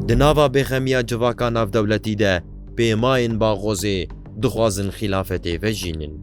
Di nava bêxemiya civaka navdewletî de pêmayên Baghozê dixwazin xîlafetê vejînin.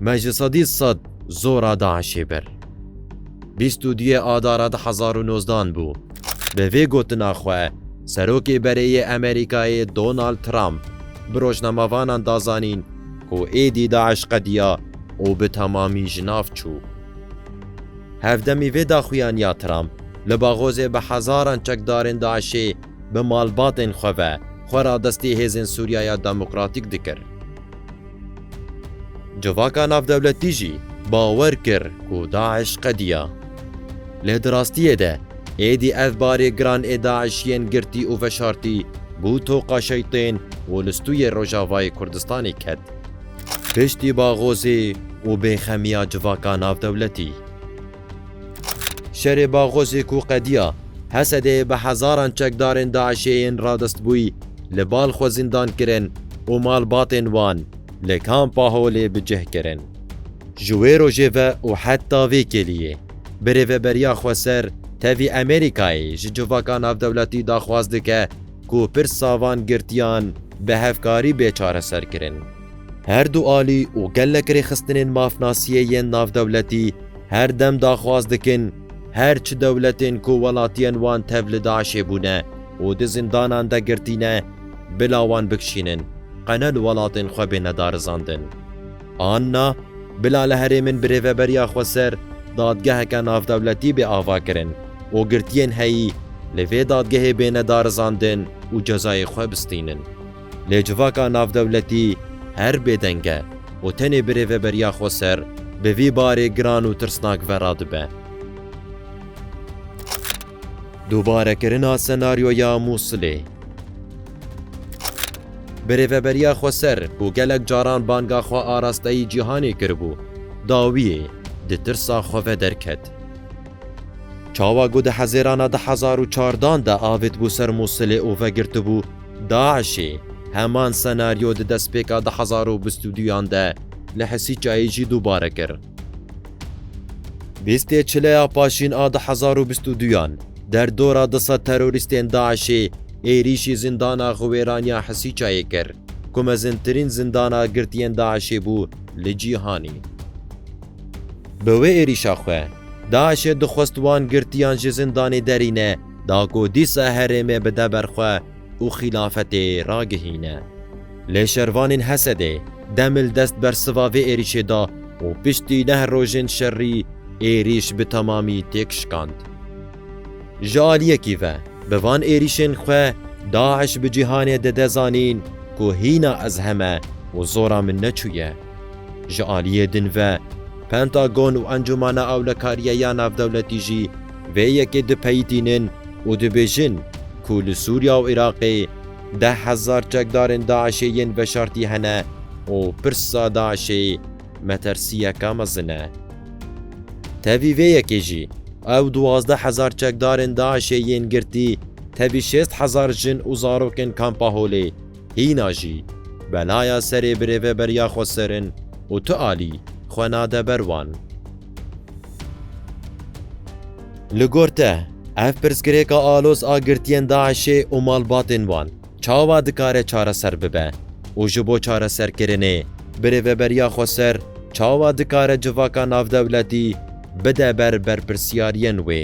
Me ji sedî sed zora DAIŞ'ê bir. Bîst û duyê Adara du hezar û nozdan bû. Bi vê gotina xwe Serokê Berêyê Amerîkayê Donald Trump bi rojnamevanan da zanîn ku êdî DAIŞ qediya û bi temamî ji nav çû. Hevdemî vê daxuyan ya Trump li Baghozê bi hezaran çekdarên DAIŞ'ê bi malbatên xwe ve xwe radestî hêzên Sûriyaya Demokratîk dikir. Civaka navdewletî jî bawer kir ku DAIŞ qediya. Lê di rastiyê de êdî ev barê giran ê DAIŞ yên girtî û veşartî bû toqa şeytên û li stûyê Rojavayê Kurdistanê ket. Piştî Baghozê û bêxemiya civaka navdewletî. Şerê Baghozê ku qediya Hesedeyê bi hezaran çekdarên DAIŞ'ê yên radestbûyî li bal xwe zindan kirin û malbatên wan li Kampa Holê bi cih kirin. Ji wê rojê ve û heta vê kêliyê bi rêveberiya Xweser tevî Amerîkayê ji civaka navdewletî daxwaz dike ku pirsa van girtiyan bi hevkarî bê çareserkirin. Her du alî û gelek rêxistinên mafnasiyê yên navdewletî her dem daxwaz dikin her çi dewletên ku welatiyên wan tev li DAIŞ'ê bûne û di zindanan de girtîne bila wan bikişînin qe ne li welatên xwe bêne darizandin. Anna, bila li herêmin bi rêveberiya xwe ser dadgeheke navdewletî bê avakirin û girtiyên heyî li vê dadgehê bêne darizandin û cezayê xwe bistînin. Lê civaka navdewletî her bêdeng e û tenê bi rêveberiya xwe ser bi vî barê giran û tirsnak ve radibe. Dubarekirina senaryoya Mûsilê. Bi rêveberiya Xweser ku gelek caran banga xwe a rasteyî cîhanê kiribû, dawiyê di tirsa xwe ve derket. Çawa ku di hezêrana du hezar û çardan de avêtibû ser Mûsilê û vegirtibû DAIŞ'ê, heman senaryo di destpêka du hezar û bîst û duyan de li Hesîçayê jî dubare kir. Bîstê çileya paşîn a du hezar û bîst û duyan der dora du sed terorîstên DAIŞ'ê êrîşî zîndana Xiwêraniya Hesîçayê kir ku mezintirîn zîndana girtiyên DAIŞ'ê bû li cîhanê. Bi wê êrîşa xwe, DAIŞ'ê dixwest wan girtiyan ji zîndanê derîne da ku dîsa herêmê bide ber xwe û xîlafetê ragihîne. Lê şervanên Hesedê deml dest bersiva vê êrîşê da û piştî neh rojên şerî êrîş bi temamî têk şikand. Ji aliyekî ve bi van êrîşên xwe DAIŞ bi cîhanê dide zanîn ku hîna ez heme û zora min neçûye. Ji aliyê din ve Pentagon û Encûmana Ewlekariya ya Navdewletî jî vê yekê dipeyitînin û dibêjin ku li Sûriya û Iraqê, Deh hezar çekdarên DAIŞ'ê yên veşartî hene û pirsa DAIŞ'ê metersiyeke mezin e. Tevî vê yekê jî, ew duwazdeh hezar çekdarên DAIŞ'ê yên girtî, tevî şêst hezar jin û zarokên Kampa Holê, hîna jî belaya serê birêveberiya xwe serin û tu alî xwe nade ber wan. Li gor te, ev pirsgirêka aloz a girtiyên DAIŞê û malbatên wan çawa dikare çareser bibe û ji bo çareserkirinê birêveberiya xweser çawa dikare civaka navdewletî bide ber berpirsyariyên wê?